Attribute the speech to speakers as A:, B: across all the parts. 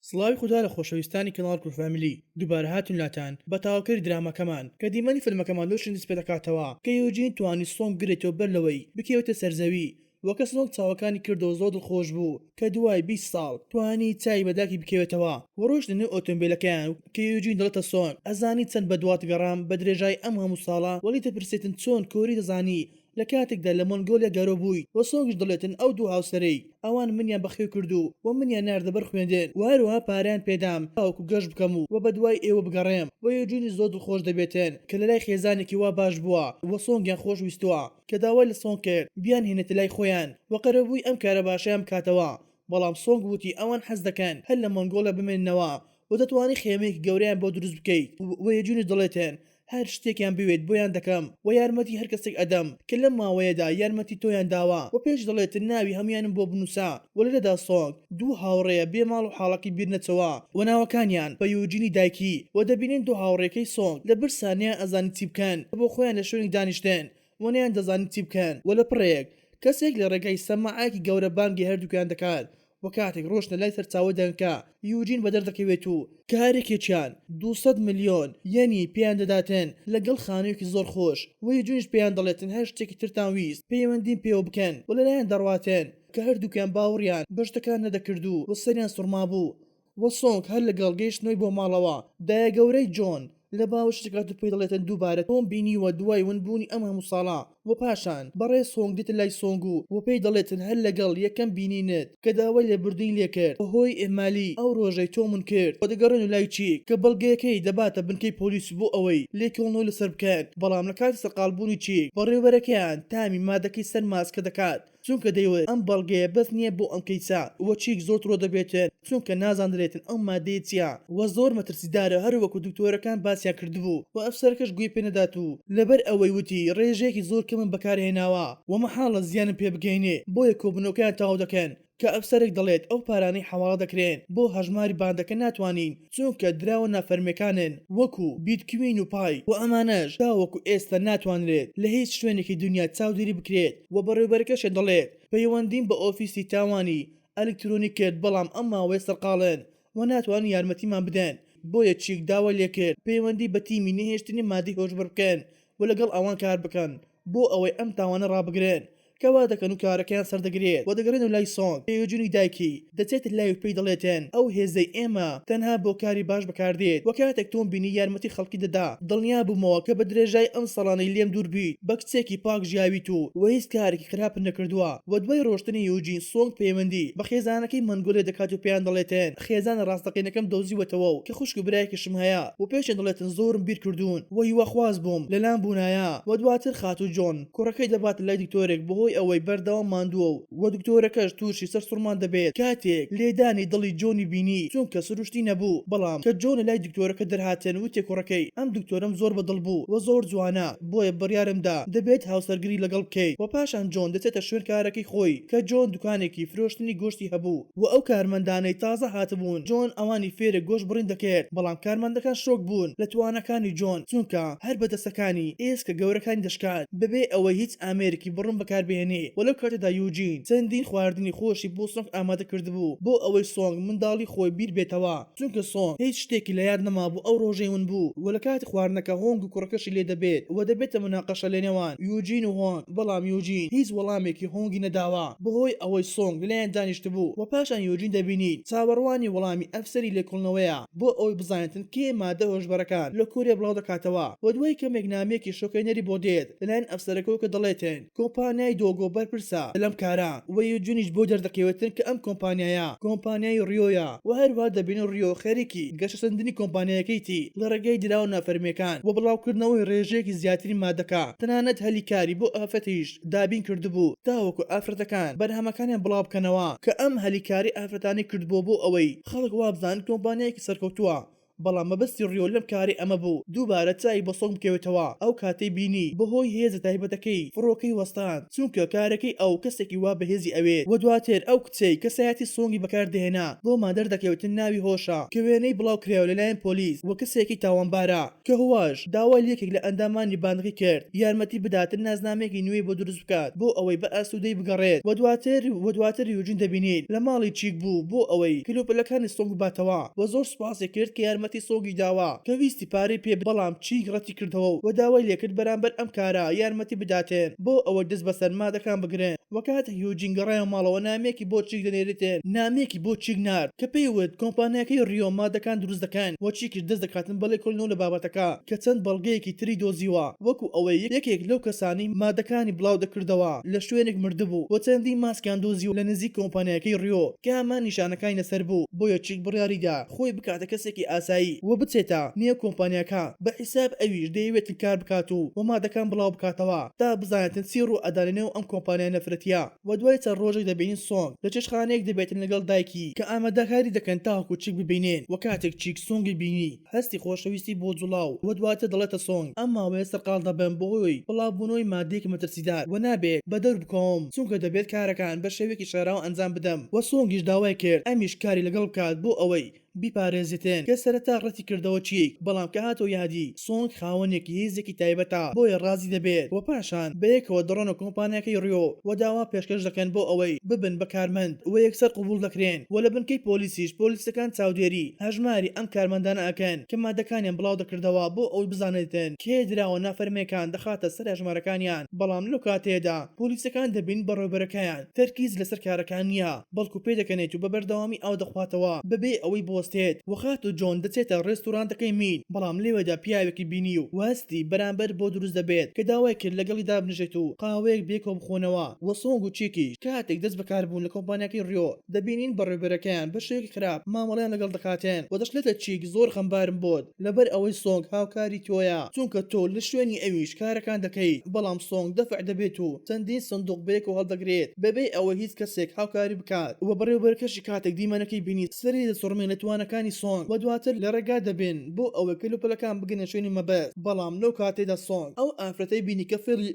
A: سڵاوی خودا لە خۆشەویستانی کەناڵ کورد فامیلی، دووبارە هاتوون لاتان بە تاوکەری دراماکەمان، کە دیمەنی فیلمەکەمان لەو شوێنە دەست پێدەکاتەوە کە یوجین توانی سۆنگ بگرێتەوە بەر لەوەی بکەوێتە سەر زەوی وە کە سۆنگ چاوەکانی کردەوە زۆر دڵخۆش بوو کە دوای بیست ساڵ توانی چاوی بە داکی بکەوێتەوە وە ڕۆیشتە نێو ئۆتۆمبیلەکەیان و کە یوجین دەڵێتە سۆنگ ئەزانی چەند بەدوات گەڕام بە درێژای ئەم هەموو ساڵە وەلی دەپرسێتن چۆن کۆری دەزانی لە کاتێکدا لە مۆنگۆلیا گەورە بوویت و سۆنگش دەڵێتن ئەو دوو هاوسەرەی ئەوان منیان بەخێو کردوو و منیان ناردە بەر خوێندن و هەروەها پارەیان پێدام تاوەکو گەشت بکەم و بە دوای ئێوە بگەڕێم و یۆجونیش زۆر دڵخۆش دەبێتن کە لە لای خێزانێکی وا باش بووە و سۆنگیان خۆش ویستووە کە داوای لە سۆنگ کرد بیانهێنێتە لای خۆیان و قەرەبووی ئەم کارە باشەیان بکاتەوە بەڵام سۆنگ وتی ئەوان حەز دەکەن هەر لە مۆنگۆلیا بمێننەوە و دەتوانی خێمەیەکی گەورەیان بۆ دروست بکەیت و یۆجونیش دەڵێتن هەر شتێکیان بوێت بۆیان دەکەم وە یارمەتی هەر کەسێک ئەدەم کە لەم ماوەیەدا یارمەتی تۆیان داوە وە پێش دەڵێت ناوی هەمویانم بۆ بنوسە وە لێرەدا سۆنگ دوو هاوڕێیە بێ ماڵ و حاڵەکەی بیر نەچەوە وە ناوەکانیان بە یۆجینی دایکی وە دەبینین دوو هاوڕیەکەی سۆنگ لە برسا نەیان ئەزانی چی بکەن وە بۆ خۆیان لە شوێنێک دانیشتن وە نەیان دەزانی چی بکەن وە لە پڕێک کەسێک لە ڕێگای سەماعەیەکی گەورە بانگی هەردوکیان دەکات و کاتێک ڕۆشتنە لای سەرچاوەی دەنگەکە یوجین بەدەردەکەوێت و کارێکێکیان دوو سەد ملیۆن یەنی پێیان دەداتن لەگەڵ خانویەکی زۆر خۆش وە یوجینیش پێیان دەڵێت تەنها شتێکی ترتان ویست پەیوەندیم پێوە بکەن وە لەلایان دەڕواتن کە هەردوکیان باوڕیان بەشتەکان نەدەکردو وە سەریان سوڕمابوو و سۆنگ هەر لەگەڵ گەیشتنەوەی بۆ ماڵەوە، دایەگەورەی جۆن لە باوەشی دەکات و پێی دەڵێتن دووبارە تۆم بینیوە دوای ون بوونی ئەم هەموو ساڵە، و پاشان بەڕێز هۆنگ دێتە لای سۆنگ و و پێی دەڵێتن هەر لەگەڵ یەکەم بینینت کە داوای لێبوردنی لێکرد بەهۆی ئیهمالی ئەو ڕۆژەی تۆم ون کرد و دەگەڕێن و لای چیک کە بەڵگەیەکەی دەباتە بنکەی پۆلیس بۆ ئەوەی لێکۆڵنەوەی لەسەر بکەن، بەڵام لە کاتی سەرقاڵبوونی چیک بەڕێوەبەرەکەیان تامی مادەکەی سەر ماسکە دەکات، چونکە دەیوت ئەم بەڵگەیە بەس نیە بۆ ئەم کەیسە وە چیک زۆر تڕۆ دەبێتن چونکە نازاندرێتن ئەو مادەیە چیە وە زۆر مەترسیدارە هەر وەکو دکتۆرەکان باسیان کردبوو وە ئەفسەرەکەش گوێی پێ نەدات و لەبەر ئەوەی وتی ڕێژەیەکی زۆر کەمم بەکار هێناوە وە مەحاڵە زیانم پێ بگەینێ بۆیە کۆبونەوەکەیان تەواو دەکەن کە ئەفسەرێک دەڵێت ئەو پارانەی حەواڵە دەکرێن بۆ هەژماری باندەکە ناتوانین چونکە دراوە نافەرمیەکانن وەکو، بیتکوین و پای، و ئەمانەش تاوەکو ئێستا ناتوانرێت لە هیچ شوێنێکی دونیا چاودێری بکرێت و بەڕێوبەرەکەشێ دەڵێت پەیوەندیم بە ئۆفیسی تاوانی ئەلکترۆنی کرد بەڵام ئەم ماوەیە سەرقاڵن و ناتوانن یارمەتیمان بدەن بۆیە چیک داوای لێکرد پەیوەندی بە تیمی نەهێشتنی مادەی هۆشبەر بکەن و لەگەڵ ئەوان کاربکەن بۆ ئەوەی ئەم تاوانە ڕابگرن کە وا دەکەن و کارەکەیان سەردەگرێت و دەگەڕێنەوە لای سۆنگ تێیۆجونی دایکی دەچێتە لای و پێی دەڵێتن ئەو هێزەی ئێمە تەنها بۆ کاری باش بەکاردێت وە کاتێک تۆم بینی یارمەتی خەڵکی دەدا دڵنیا بومەوە کە بە درێژای ئەم ساڵانەی لێم دوور بیت بە کچێکی پاک ژیاویت و وە هیچ کارێکی خراپت نەکردوە وە دوای ڕۆشتنی یوجین سۆنگ پەیوەندی بە خێزانەکەی مەنگۆلێ دەکات و پێیان دەڵێتن خێزانە ڕاستەقینەکەم دۆزیوەتەوە و کە خوشک و برایەکیشم هەیە وە پێشیان دەڵێتن زۆرم بیرکردون و هیواخواز بووم لەلام بونایە وە دواتر خاتو جۆن کوڕەکەی دەباتە لای دکتۆرێک بەهۆی ئەوەی بەردەوام ماندووە و و دکتۆرەکەش تووشی سەرسوڕمان دەبێت کاتێک لێدانی دڵی جۆنی بینی چونکە سروشتی نەبوو بەڵام کە جۆن لەلای دکتۆرەکە دەرهاتن وتی کوڕەکەی ئەم دکتۆرەم زۆر بەدڵ بوو و زۆر جوانە بۆیە بڕیارم دا دەبێت هاوسەرگری لەگەڵ بکەیت و پاشان جۆن دەچێتە شوێن کارەکەی خۆی کە جۆن دوکانێکی فرۆشتنی گۆشتی هەبوو و ئەو کارمەندانەی تازە هاتبوون جۆن ئەوانی فێرێ گۆشت بڕین دەکرد بەڵام کارمەندەکان شۆک بوون لە تواناکانی جۆن چونکە هەر بە دەستەکانی ئێسکە گەورەکانی دەشکاند بەبێ ئەوەی هیچ ئامێرێکی بڕن بەکار بهێنێ وە لەو کاتەدا یوجین چەندین خواردنی خۆشی بۆ سۆنگ ئامادە کردبوو بۆ ئەوەی سۆنگ منداڵی خۆی بیر بێتەوە. چونکە سۆن هیچ شتێکی لە یاد نەمابوو ئەو ڕۆژەی ون بوو و لە کاتی خواردنەکە هۆنگ و کوڕەکەشی لێ دەبێت و دەبێتە مناقەشە لە نێوان یوجین و هۆنگ بەڵام یوجین هیچ وەڵامێکی هۆنگی نەداوە بەهۆی ئەوەی سۆنگ لەلایان دانیشتبوو و پاشان یوجین دەبینین چاوەڕوانی وەڵامی ئەفسەری لێکۆڵنەوەیە بۆ ئەوەی بزانێتن کێ مادە هۆشبەرەکان لە کۆریا بڵاو دەکاتەوە و دوای کەمێک نامەیەکی شۆکهێنەری بۆ دێت لەلایەن ئەفسەرەکەوە کە دەڵێتن کۆمپانیای دۆگۆ بەرپرسە لەم کارە و یوجونیش بۆی دەردەکەوێتن کە ئەم کۆمپانیایە کۆمپانیای ڕیۆیە و هەروەها دەبینن ڕیۆ خەریکی گەشەسەندنی کۆمپانیایەکەیتی لە ڕێگای دراوە فەرمییەکان و بڵاوکردنەوەی ڕێژەیەکی زیاتری مادەکە، تەنانەت هەلی کاری بۆ ئافرەتیش دابین کردبوو تاوەکو ئافرەتەکان بەرهەمەکانیان بڵاوبکەنەوە کە ئەم هەلی کاری ئافرەتانەی کردبووە بۆ ئەوەی خەڵک وابزانن کۆمپانیایەکی سەرکەوتووە بەڵام مەبەستی ڕیۆ لەم کارەی ئەمە بوو دووبارە چاوی بە سۆنگ بکەوێتەوە، ئەو کاتەی بینی بەهۆی هێزە تایبەتەکەی فڕۆکەی وەستاند، چونکە کارەکەی ئەو کەسێکی وا بەهێزی ئەوێت، وە دواتر ئەو کچەی کەسایەتی سۆنگی بەکاردەهێنا بۆمان دەردەکەوێت ناوی هۆشە کە وێنەی بڵاوکرایەوە لەلایەن پۆلیس وە کەسێکی تاوانبارە کە هواش داوای لە یەکێک لە ئەندامانی باندەکەی کرد یارمەتی بدات نازنامەیەکی نوێی بۆ دروست بکات بۆ ئەوەی بە ئاسوودەی بگەڕێت و دواتر و دواتر یوجین دەبینین لە ماڵی چیک بوو بۆ ئەوەی کەلوپەلەکانی سۆنگ بباتەوە و زۆر سوپاسی کرد کە یارمەتی سۆنگی داوە کە ویستی پارەی پێ بدات بەڵام چیک ڕەتی کردەوە و داوای لێکرد بەرامبەر ئەم کارە یارمەتی بداتێن بۆ ئەوەی دەست بەسەر مادەکان بگرن و کاتێک یوجین گەڕایەوە ماڵەوە نامەیەکی بۆ چیک دەنێریتن نامەیەکی بۆ چیک نارد کە پێی وت کۆمپانیاکەی ڕیۆ مادەکان دروست دەکەن و چیکیش دەست دەکاتن بە لێکۆڵینەوە لە بابەتەکە کە چەند بەڵگەیەکی تری دۆزیوە وەکو ئەوەی یەکێک لەو کەسانەی مادەکانی بڵاودەکردەوە لە شوێنێک مردبوو و چەندین ماسکیان دۆزیوە لە نزیک کۆمپانیاکەی ڕیۆ کە هەمان نیشانەکانی لەسەر بوو، بۆیە چیک بڕیاریدا خۆی بکاتە کەسێکی ئاسایی و بچێتە نێو کۆمپانیاکە بە حیساب ئەویش دەیەوێت کار بکات و و مادەکان بڵاوبکاتەوە تا بزانێتن چی ڕوو ئەدا لەنێو ئەم کۆمپانیا نەفرەتیە. وە دوای چەند ڕۆژێک دەبینین سۆنگ لە چێشتخانەیەک دەبێتن لەگەڵ دایکی کە ئامادەکاری دەکەن تاوەکو چیک ببینێن وە کاتێک چیک سۆنگی بینی، هەستی خۆشەویستی بۆ جوڵاو و دواتر دەڵێتە سۆنگ ئەم ماوەیە سەرقاڵ دەبم بەهۆی بڵاوبوونەوەی ماددەیەکی مەترسیدار و نابێت بەدەور بکەوم چونکە دەبێت کارەکان بە شێوەیەکی شاراوە ئەنجام بدەم و سۆنگیش داوای کرد ئەمیش کاری لەگەڵ بکات بۆ ئەوەی بیپارێزێتن کە سەرەتا ڕەتی کردەوە چیک بەڵام کە هاتەوە یادی سۆنگ خاوەنێکی هێزێکی تایبەتە بۆیە ڕازی دەبێت و پاشان بەیەکەوە دەڕۆنە کۆمپانیاکەی ڕیۆ و داوا پێشکەش دەکەن بۆ ئەوەی ببن بە کارمەند و یەکسەر قبوڵ دەکرێن و لە بنکەی پۆلیسیش پۆلیسەکان چاودێری هەژماری ئەم کارمەندانە ئەکەن کە مادەکانیان بڵاو دەکردەوە بۆ ئەوەی بزانرێتن کێ دراوە نافەرمیەکان دەخاتە سەر هەژمارەکانیان بەڵام لەو کاتەیەدا پۆلیسەکان دەبین بەڕێوبەرەکەیان تەرکیز لەسەر کارەکان نیە بەڵکو پێدەکەنێت و بە بەردەوامی ئاو دەخواتەوە بەبێ ئەوەی بوەستێت وە خاتو جۆن دەچێتە ڕێستورانتەکەی مین بەڵام لەوێدا پیاوێکی بینی و واستی بەرامبەر بۆ دروست دەبێت کە داوای کرد لەگەڵی دابنیشێت و قاوەیەک بێکەوە بخۆنەوە وە سۆنگ و چیکیش کاتێک دەست بەکاربوون لە کۆمپانیاکەی ڕیۆت دەبینین بەڕێوبەرەکەیان بەشێوەیەکی خراپ مامەڵەیان لەگەڵ دەکاتێن و دەشڵێتە چیک زۆر غەمبارم بۆت لەبەر ئەوەی سۆنگ هاوکاری تۆیە چونکە تۆ لە شوێنی ئەویش کارەکان دەکەیت بەڵام سۆنگ دەفع دەبێت و چەندین سندوق بەیەکەوە هەڵدەگرێت بەبێ ئەوەی هیچ کەسێک هاوکاری بکات و بەڕێوبەرەکەشی کاتێک دیمەنەکەی بینی سەری دەسوڕمێ لە توانەکانی سۆنگ و دواتر لە ڕێگا دەبێن بۆ ئەوەی کەلوپەلەکان بگەنە شوێنی مەبەست بەڵام لەو کاتەیدا سۆنگ ئەو ئافرەتەی بینی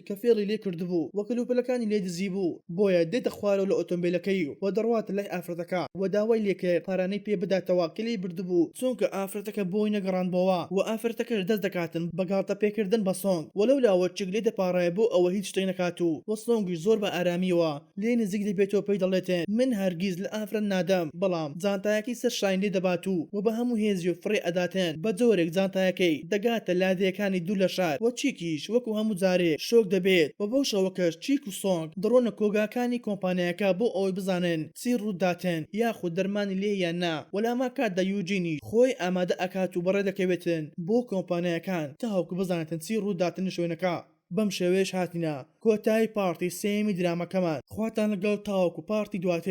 A: کە فێڵی لێ کردبوو و کەلوپەلەکانی لێ دزیبوو. بۆیە دێتە خوارەوە لە ئۆتۆمبێلەکەی و دەڕواتە لای ئافرەتەکە و داوای لێکرد پارانەی پێ بداتەوە کە لێی بردبوو چونکە ئافرەتەکە بۆی نەگەڕاندبۆوە و ئافرەتەکەش دەست دەکاتن بە گاڵتە پێکردن بە سۆنگ و لەولاوە چک لێ دەپاڕێ بۆ ئەوە هیچ شتێک نەکات و و سۆنگیش زۆر بە ئارامیەوە لێ نزیک دەبێتەوە پێی دەڵێتن من هەرگیز لە ئافرەت نادەم بەڵام جانتایەکەی سەر شانی لێ دەبات و و بە هەموو هێزیەوە فڕێ ئەداتن بە جۆرێک جانتایەکەی دەگاتە لادێیەکانی دوور لە شار و چیکیش وەکو هەموو جارێ شۆک دەبێت و بەو شەوەکەش چیک سۆنگ، دڕۆنە کۆگاکانی کۆمپانیاکە بۆ ئەوەی بزانن چی ڕووداتن یاخود دەرمانی لێیە یان نا، وەلامان کاتدا یوجینیش خۆی ئامادە ئەکات و بەڕێ دەکەوێتن بۆ کۆمپانیاکان تاوەکو بزانێتن چی ڕووداتن لە شوێنەکە. بەم شێوەیەش هاتینە کۆتایی پاڕتی سێیەمی درامەکەمان خواتان لەگەڵ تاوەکو پاڕتی دواتر.